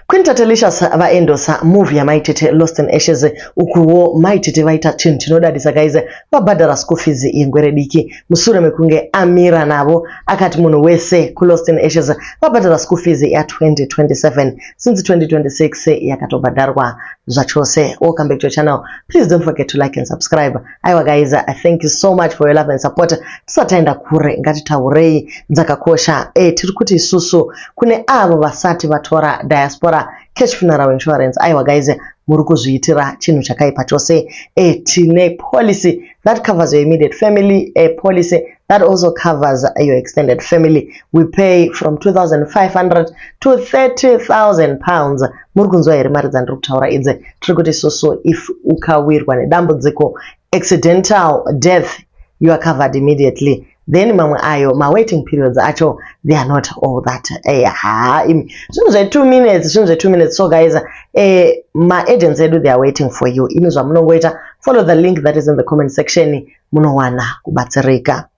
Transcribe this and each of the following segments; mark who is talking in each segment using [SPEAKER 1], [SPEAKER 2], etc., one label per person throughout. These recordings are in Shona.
[SPEAKER 1] Queen Tatelicious vaendosa move yamaitete Lost in Ashes ukuwo maitete vaita chinhu chinodadisa guys vabhadhara school fees yengwere diki mushure mekunge amira navo akati munhu wese kuLost in Ashes vabhadhara school fees ya 2027 since 2026 yakatobhadharwa zvachose. Welcome back to your channel. Please don't forget to like and subscribe. aiwa guys uh, thank you so much for your love and support tisataenda kure ngatitaurei dzakakosha e tiri kuti isusu kune avo vasati vatora diaspora cash funeral insurance aiwa guys muri kuzviitira chinhu chakaipa chose e tine policy that covers your immediate family a policy That also covers your extended family. We pay from 2,500 to 30,000 pounds. Muri kunzwa here mari dzandiri kutaura idzi? Tiri kuti isusu if ukawirwa nedambudziko accidental death you are covered immediately then mamwe ayo mawaiting periods acho they are not all that eh, ha imi zvinhu zve2 minutes zvinhu zve2 minutes so guys eh, maagents edu they are waiting for you imi zvamunongoita follow the link that is in the comment section munowana kubatsirika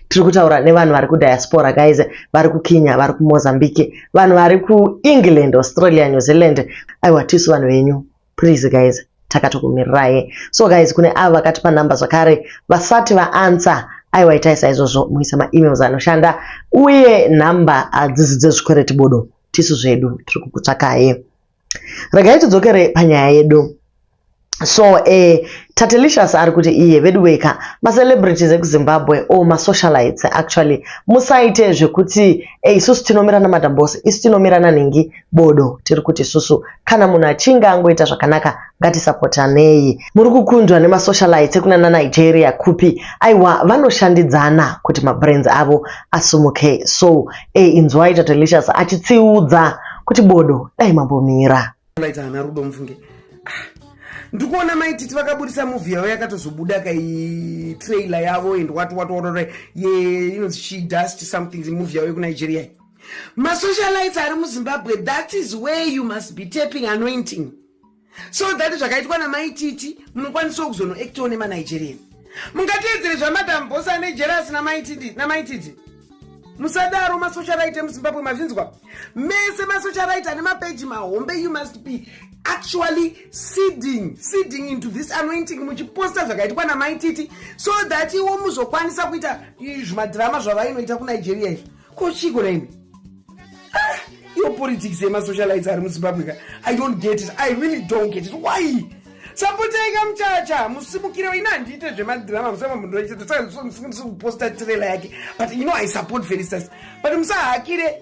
[SPEAKER 1] tiri kutaura nevanhu vari kudiaspora guys vari kukenya vari kumozambique vanhu vari kuengland australia new zealand aiwa tisu vanhu venyu please guys takatokumirirai so guys kune avo vakati panumber zvakare vasati vaansa aiwa itai saizvozvo muisa maemails anoshanda uye number hadzizi dzezvikwereti bodo tisu zvedu tiri kukutsvakai regai tidzokere panyaya yedu so eh, tatelicious ari kuti iye veduweka macelebrities ekuzimbabwe o oh, masocialites actually musaite zvekuti e eh, isusu tinomirana madambos isu tinomirana nhingi bodo tiri kuti isusu kana munhu achinge angoita zvakanaka ngatisapotanei muri kukundwa nemasocialites ekuna nanigeria kupi aiwa vanoshandidzana kuti mabrains avo asumuke so e inzwai tatelicious achitsiudza kuti bodo dai mambomira ndaita ana rudo mfunge ah,
[SPEAKER 2] ndikuona maititi vakaburitsa movie yavo yakatozobuda kai trailer yavo and what what what ye inonzi she dust something movie yavo yekunigeria masocialites ari muzimbabwe that is where you must be tapping anointing so that zvakaitwa namaititi munokwanisawo kuzonoactiwo nemanigerian mungateedzere zvamadam bos ane jerasi namaititi musadaro masocialite muzimbabwe mazvinzwa mese masocialite ane mapeji mahombe you must be actually seeding seeding into this anointing muchiposta zvakaitwa namaititi so that iwo muzokwanisa kuita zvimadhirama zvavainoita kunigeria izvi ko chiko raimi ah, iyo politics yemasocialites ari muzimbabwe ka i don't get it i really don't get it why sapotaika muchacha musimukire waina handiite zvemadrama musamamunduraisakuposta trailer yake but you know i support felisters but musahakire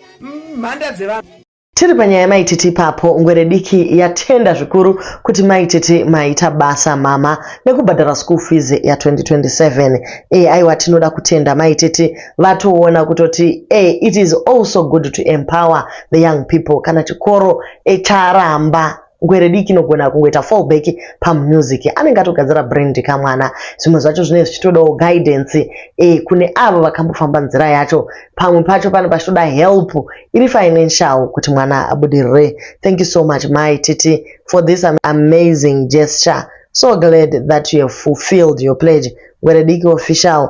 [SPEAKER 2] mhanda dzevanhu Tiri panyaya yamai
[SPEAKER 1] Titi ipapo, ngwere diki yatenda zvikuru kuti mai Titi maita basa mhamha nekubhadhara school fees ya 2027. Eh aiwa tinoda kutenda mai Titi vatoona kutoti eh it is also good to empower the young people kana chikoro eh charamba ngwere diki inogona kungoita fallback pamusic anenge atogadzira brand kamwana zvimwe zvacho zvinenge zvichitodawo guidance e, kune avo vakambofamba nzira yacho pamwe pacho pane pachitoda help iri financial kuti mwana abudirire thank you so much mai titi for this amazing gesture so glad that you have fulfilled your pledge ngwere diki official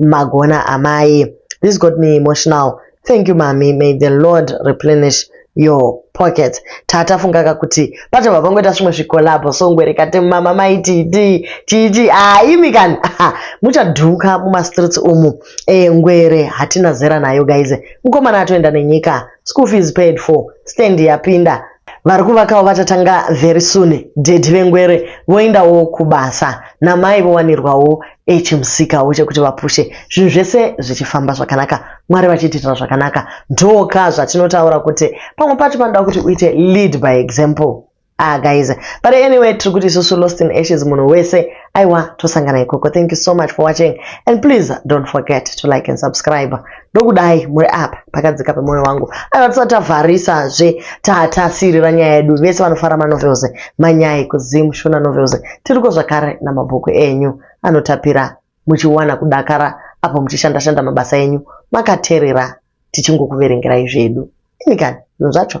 [SPEAKER 1] magona amai this got me emotional thank you mami may the lord replenish your pocket taatafungaka kuti patova pangoita zvimwe zvikolabho songwerekate mama maititi chichi haimi kani muchadhuka mumastreets umu e, ngwere hatina zera nayo gaize mukomana atoenda nenyika school fees paid for stand yapinda vari kuvakawo vachatanga very soon dedi vengwere voendawo kubasa namai vowanirwawo Ei chimusikawo chekuti vapushe zvinhu zvese zvichifamba zvakanaka mwari vachiitira zvakanaka ndoka zvatinotaura kuti pamwe pacho panoda kuti uite lead by example ah guys but anyway tiri kuti isusu lost in ashes munhu wese aiwa tosangana ikoko thank you so much for watching and please don't forget to like and subscribe ndokudai muri apa pakadzika pemoyo wangu aiva tisati tavharisazve tatasirira nyaya yedu vese vanofara manovels manyai kuzim shona novels tiriko zvakare namabhuku enyu anotapira muchiwana kudakara apo muchishandashanda mabasa enyu makaterera tichingokuverengerai zvedu ini kani zvinhu zvacho